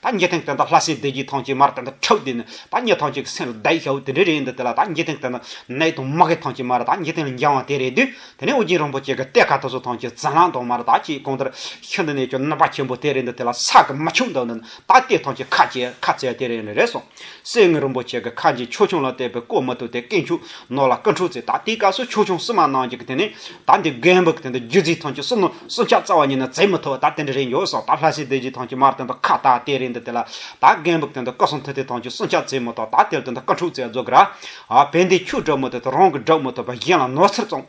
ད་ངེད་ཐེངས་དེ་འདྲ་ལྷ་སའི་བདེ་སྐྱིད་ཐང་ཆེན་མར་དེ་འདྲ་འཁྲབ་དེ་ནི་ད་ངེད་ཐང་ཆེན་གྱི་སེམས་ལ་བདའ་ཡི་ཤ་བོ་དེ་འདྲ་རེད་ཡིན་འདུག་དེ་ལ་ད་ངེད་ཐེངས་དེ་འདྲ་ནད་དུ་མ་གི་ཐང་ཆེན་མར་ད་ངེད་ཐེངས་ལ་འགྱངས་བ་དེ་རེད་དུས་དེ་ནས་ཨོ་རྒྱན་རིན་པོ་ཆེ་གི་གཏེར་ཁ་ཐོ་སོ་ཐང་ཆེན་ཛམ་ལྷང་དོག་མར་ད་ཁྱེད་གང་ལྟར་ཤིན་ཏུ་ནས་ཀྱང་ནུབ་པ་ཆེན་པོ་དེ་རེད་འདུག་དེ་ལ་ས་གི་མི་ཆུང་དག་ནི་ད་གཏེར་ཐང་ཆེན་ཁ་བྱས་ཁ་བཙལ་དེ་རེད་རེད་སོང། སེང་ངེ་རིན་པོ་ཆེ་གི་ཁ་འབྱེད་ཆོས་ཆུང་ལ་བལྟས་པས་བཀོད་མི་ཐུབ་དེ་སྐད་འཕྱུག་ནོར་ལ་སྐུ་འཁྲུངས་ཚེ་ད་ལྟའི་སྐབས་སུ་ཆོས་ཆུང་བསུ་མ་གནང་རྒྱུ་དེ་ནི་ད་འདི་རྒན་བུ་གི་དེ་འདི་རྒྱུད་རྫིག་ཐང་གི་བསུ་ནོར་བསུ་འཆར་རྩ་བ་ཉིད་ནི་བརྩེ་མི་ཐུབ་ད་དེ་འདྲ་རེད་འགྱོ་སོང་ད་ལྷ་སའི་སྡེ་བཞི་ཐང་གི་མར་དེ་འདི་ཁ་བཏགས་དེ་རེད་འདི་དེ་ལ་ད་རྒན་བུ་གི་དེ་འདི་སྐུ་གསུང་ཐུགས་རྟེན་ཐང་གི་བསུ་འཆར་བརྩེ་མི་ཐུབ་ད་དེར་དེ་འདི་སྐུ་འཁྲུངས་ཚེ་རྫོགས་གི་ར་བས་འདི་ཁྱོད་སྒྲུབ་མི་ཐུབ་དེ་རང་གི་སྒྲུབ་མི་ཐུབ་པ་གཞན་ལ་ནོར་འཚེར་བཙོང།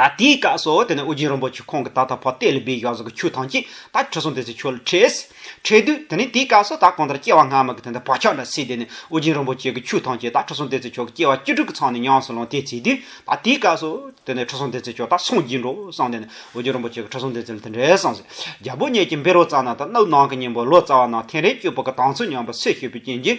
ད་དེའི་སྐབས་སུ་དེ་ནས་ཨོ་རྒྱན་རིན་པོ་ཆེ་ཁོང་གིས་ད་ལྟ་བ་དེ་ལས་སྦས་བཞག་ཟེར་གི་ཆུ་ཐང་གཅིག་ད་ཁྲི་སྲོང་ལྡེ་བཙན་ཆོས་ལ་ཁྲེལ། ཁྲེལ་དུས་དེ་ནས་དེའི་སྐབས་སུ་ད་གང་ལྟར་སྐྱེ་བ་སྔ་མ་གི་དེ་འདྲ་བག་ཆགས་འདྲ་སྲིད་དེ་ནས་ཨོ་རྒྱན་རིན་པོ་ཆེ་གི་ཆུ་ཐང་གཅིག་ད་ཁྲི་སྲོང་ལྡེ་བཙན་ཆོས་ཀྱི་སྐྱེ་བ་བཅུ་དྲུག་གི་ཚང་ནས་ཉམས་སུ་ལོངས་དེ་བྱས་དུས་ད་དེའི་སྐབས་སུ་དེ་ནས་ཁྲི་སྲོང་ལྡེ་བཙན་ཆོས་ད་སངས་རྒྱས་འགྲོ་བསམ་དེ་ནས་ཨོ་རྒྱན་རིན་པོ་ཆེ་གི་ཁྲི་སྲོང་ལྡེ་བཙན་ལ་དེ་འདྲའི་བསམ་ཟིན་རྒྱལ་པོ་གཉིས་ཀྱི་འབེལ་རོ་བརྩམས་ན་ད་གནའ་བོའི་ནང་གི་སྙིང་པོ་ལོ་ཙཱ་བ་རྣམས་ཐེངས་རེ་བསྐྱོད་པོ་གི་དང་ཚུལ་ཉམས་པ་སེ་ཤེས་པའི་རྐྱེན་གྱིས་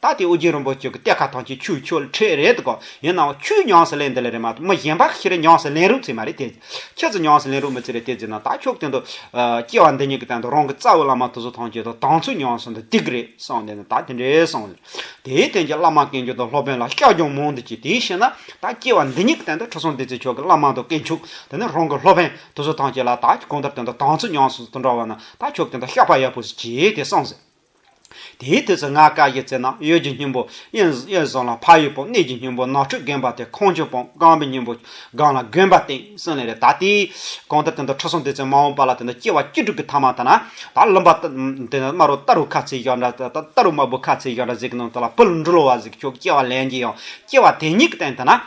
ད་ལྟའི་ཨོ་རྒྱན་རིན་པོ་ཆེ་གི་གཏེར་ཁ་ཐང་ཆེན་ཆུ་ཆོལ་ཁྲེས་རེད་དགོ། ཡིན་ནའོ་ཁྱོས་ཉམས་སུ་ལེན་འདི་ལས་རེད་མ་གཏོགས་མི་གཞན་པ་ཤི་རེ་ཉམས་སུ་ལེན་རུ་ཚིག་མ་རེད་དེ། ཁྱེད་ཚོ་ཉམས་སུ་ལེན་རུ་མི་ཚིག་རེད་དེ་ཟེར་ན་ད་ཁྱོད་སྟེང་དུ། སྐྱེ་བ་འདི་ཉིད་ཀྱི་སྟེང་དུ་རང་གི་རྩ་བའི་བླ་མ་ཐུགས་སྲོག་ཐང་ཆེན་དང་དང་ཚུལ་ཉམས་སུ་འདི་ཏིག་རེད་གསུངས་དེ་ནས་ད་དེ་འདྲའི་གསུངས་ཟེར། དེའི་དོན་གྱིས་བླ་མ་སྐལ་མཆོག་དང་སློབ་དཔོན་ལ་སྐྱག་རྒྱང་མང་དུ་བྱས་དེའི་ཕྱིར་ན་ད་སྐྱེ་བ་འདི་ཉིད་ཀྱི་སྟེང་དུ་ཁྲི་སྲོང་ལྡེ་བཙན་མཆོག་གི་བླ་མ་དང་སྐལ་མཆོག་དེ་ནས་རང་གི་སློབ་དཔོན་ཐུགས་སྲོག་ཐང་ཆེན་ལ་ད་གང་ལྟར་སྟེང་དུ་དང་ཚུལ་ཉམས་སུ་འདི་འདྲ་བ་ན་ད་ཁྱོད་ཀྱི་སྟེང་དུ་བཤགས་པ་ཡག་པོ་ཞིག་བྱས་ཏེ་གསུངས་ཟེར། དེའི་དུས་སུ་ངག་དཀར་གྱི་རྩེ་ན་གཡོས་ཀྱི་སྙིང་པོ་གཡོན་བཟུང་ལ་ཕ་ཡི་པོ་གནས་ཀྱི་སྙིང་པོ་ནག་ཁྲུས་བསྒོམ་པ་དེ་ཁོང་ཆུ་བོང་སྒང་པའི་སྙིང་པོ་སྒང་ལ་བསྒོམ་པ་བསྟན་སྲིང་ལས་རེ་ད་ལྟའི་གང་ལྟར་དེ་འདུག་ཁྲོ་སྲུང་སྡེ་ཚན་མ་འོངས་པ་ལ་དེ་འདུག་སྐྱེ་བ་བཅུ་དྲུག་གི་ཐ་མ་དང་ན་བ་རློན་པ་དེ་ནི་དམར་བོ་སྟར་བུ་ཁ་ཚིག་བཞག་འདྲ་སྟར་བུ་དམར་བོ་ཁ་ཚིག་བཞག་འདྲ་ཟིག་གི་ནང་དུ་ལ་བུ་ལ་འབྲུ་ལོ་བ་ཟིག་གི་ཆོག་སྐྱེ་བ་ལན་གྱི་ཡང་སྐྱེ་བ་དེ་ཉིད་ཀྱི་སྟེང་དུ་ན།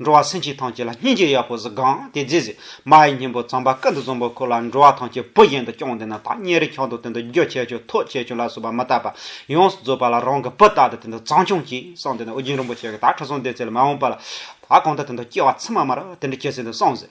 འགྲོ་བ་སེམས་ཅན་ཐམས་ཅད་ལ་སྙིང་རྗེ་ཡག་པོ་གཟིགས་གང་དེ་རྗེས་གཟིགས། མ་ཡི་སྙིང་པོ་ཙམ་པ་ཀ་འདི་བཟང་པོ་ཁོ་ལ་འགྲོ་བ་ཐམས་ཅད་བུ་བཞིན་དུ་སྐྱོང་འདི་ན་ཐག་ཉེ་རིང་ཁྱོད་དང་དེ་འདྲ་རྒྱུ་ཆད་ཆོས་ཐོག་ཆད་ཆོས་ལ་སོགས་པ་མི་བལྟ་བར་ཡོངས་སུ་རྫོགས་པ་ལ་རང་གི་བུ་ལྟ་སྟེ་དེ་འདྲ་བཟང་སྐྱོང་གྱིས་སང་དེ་ནས་ཨོ་རྒྱན་རིན་པོ་ཆེ་གི་དག་ཁྲི་སྲོང་ལྡེ་བཙན་ལ་མ་འོངས་པ་ལ་ད་གང་ལྟར་དེ་འདྲ་སྐྱེ་བ་ཚད་མ་མ་རག་དེ་འདྲ་སྐྱེ་ཟིན་དུ་སོང་ཟེར།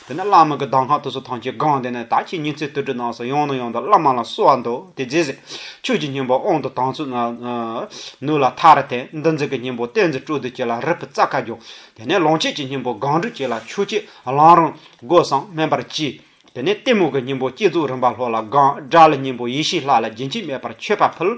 དེ་ནས་བླ་མ་གི་གདམས་ཁང་དུ་སོ་ཐང་ཆེ་སྒང་དེ་ནས་ད་ཁྱེད་ཉིན་ཚེ་དུར་ཁྲོད་ནང་སོ་ཡང་ནོ་ཡང་དང་བླ་མ་ལ་གསོལ་བ་འདེབས་དེ་རྗེས་ཟེར། ཁྱོད་ཀྱི་སྙིང་པོ་དབང་དུ་དང་ཚུལ་ནུ་ལ་ཐ་ར་དན་འདི་འཛིན་གྱི་སྙིང་པོ་བསྟན་འཛིན་སྤྲོ་བསྡུ་བྱས་ལ་རི་བུ་རྩ་ཁ་རྒྱོག། དེ་ནས་ལོངས་སྤྱོད་ཀྱི་སྙིང་པོ་སྒང་དྲུག་བྱས་ལ་ཆོས་སྐྱེས་བླང་རང་སྒོ་སངས་སྨན་པར་བགྱིས། དེ་ནས་གཏི་མུག་གི་སྙིང་པོ་བསྐྱེད་རྫོགས་རིམ་པ་ལྷོ་ལ་སྒང་དགྲ་ལ་སྙིང་པོ་ཡེ་ཤེས་ལྷ་ལ་རྒྱུན་ཆད་མེད་པར་མཆོད་པ་ཕུལ།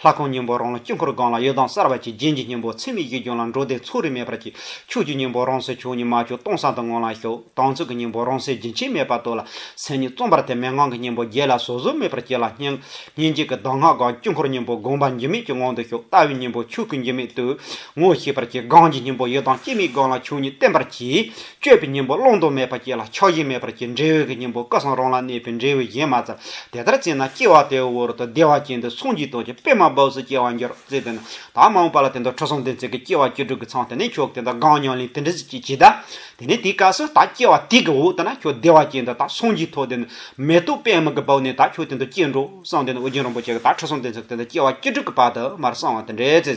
ལྷ་ཁང་སྙིང་པོ་རང་ལ་དཀྱིལ་འཁོར་སྒང་ལ་གཡོ་ལྡང་གསར་བ་ཅིག་རྒྱན་གྱི་སྙིང་པོ་ཚེ་མེད་ཀྱི་རྒྱུན་ལ་འགྲོ་དེ་ཚོགས་རིས་མེད་པར་གྱིས་ཕྱུགས་ཀྱི་སྙིང་པོ་རང་སའི་ཕྱོགས་གཉིས་མ་ཕྱོགས་སྟོང་སང་དུ་ངང་ལ་ཞོག་དང་ཚུགས་ཀྱི་སྙིང་པོ་རང་སའི་རྒྱུན་ཆད་མེད་པར་དོར་ལ་སེམས་ཉིད་རྩོམ་པར་ཐལ་མེད་ངང་གི་སྙིང་པོ་རྒྱས་ལ་བཟོད་གཟུང་མེད་པར་བསྐྱེད་ལ་སྙིང། སྙིང་རྗེ་གི་གདམས་ངག་སྒང་དཀྱིལ་འཁོར་སྙིང་པོ་དགོངས་པ་འགྱུར་མེད་ཀྱི་ངང་དུ་ཞོག་ལྟ་བའི་སྙིང་པོ་ཕྱུགས་ཀྱི་འགྱུར་མེད་དུ་ངོ་ཤེས་པར་གྱིས་སྒང་གི་སྙིང་པོ་གཡོ་ལྡང་སྐྱེ་མེད་སྒང་ལ་ཕྱོགས་གཉིས་བསྟན་པར་གྱིས་སྤྱོད་པའི་གཉེན་པོ་བླང་དོར་མེད་པར་སྐྱེ་ལ་ཆགས་ཞེན་མེད་པར་སྐྱེ་འབྲས་བུའི་གཉེན་པོ་སྐལ་བཟང་རང་ལ་གནས་པའི་འབྲས་བུའི་གཞན་མ་ཙམ་དེ་ལྟར་སྐྱེས་ན་སྐྱེ་བ་དེའི་འོག་ཏུ་བདེ་བ་ཅན་དུ་མཚུངས་ཀྱི་དོན་གྱི་དཔེ་མ་བབས་སུ་སྐྱེ་བར་འགྱུར་རོ་ཟེར་ཏེ། དྭངས་མ་འོངས་པ་ལ་དེ་འདུག་ཁྲོ་སྲུང་ལྡན་ཚེ་གི་སྐྱེ་བ་བཅུ་དྲུག་གི་ཚངས་དེ་ནས་ཁྱོད་དེ་འདྲ་གང་མྱོང་ལན་དེ་འདྲ་ཅིག་ཅིག་གྱིས་གདའ། དེ་ནས་དེའི་སྐབས་སུ་ད་སྐྱེ་བ་དེ་གི་འོག་ཏུ་ན་ཁྱོད་བདེ་བ་ཅན་དུ་ད་སངས་ཀྱི་ཐོག་དེ་ནས་མེ་ཏོག་པད་མ་གི་བབས་ནས་ད་ཁྱོད་དེ་འདྲ་སྐྱེ་འགྲོ་བསམས་ཏེ་ན་ཨོ་རྒྱན་རིན་པོ་ཆེ་གི་ད་ཁྲོ་སྲུང་ལྡན་ཚེ་གི་དེ་འདྲ་སྐྱེ་བ་བཅུ་དྲུག་གི་བར་དུ་མར་གསང་བ་དེ་འདྲའི་ཚེ།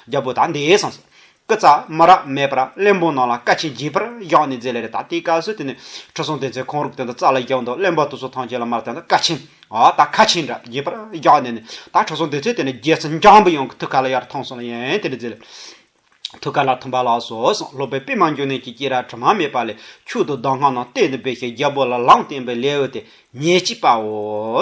རྒྱལ་པོ་དག་འདི་ཨེ་གསང་སོ། སྐུ་ཙཱ་མ་ར་མེད་པར་གླེན་པོ་རྣམས་ལ་བཀའ་ཆེན་བགྱིས་པར་བཞག་ནས་མཛད་ལས་རེ་ད་ལྟའི་སྐབས་སུ་དེ་ནས་ཁྲི་སྲོང་ལྡེ་མཚན་ཁོང་རུག་དེ་ད་ཙཱ་ལ་རྒྱལ་པོ་མདོ་གླེན་པ་དུ་སོ་ཐང་ཆེན་ལ་མར་དེ་ད་བཀའ་ཆེན་ད་ཁ་ཆེན་འདྲ་བགྱིས་པར་བཞག་ནས་ནི་ད་ཁྲི་སྲོང་ལྡེ་མཚན་དེ་ནས་རྒྱལ་སྲིད་འཇམ་པོ་ཡོང་གི་ཐུགས་ཁ་ལ་ཡར་ཐང་སོང་ལ་ཡན་དེ་ནས་མཛད་ལས། ཐུགས་ཁ་ལ་ཐུམ་པ་ལགས་སོ་གསུངས་སློབ་དཔོན་པད་མ་འབྱུང་གནས་ཀྱི་སྐྱེས་ར་དྲི་མ་མེད་པ་ལས་ཕྱུག་ཏུ་གདམས་ངག་རྣམས་གཏད་ནས་སྦས་ཤིང་རྒྱལ་པོ་ལ་ལམ་བསྟན་པའི་ལེའུ་སྟེ་ཉེར་གཅིག་པའོ།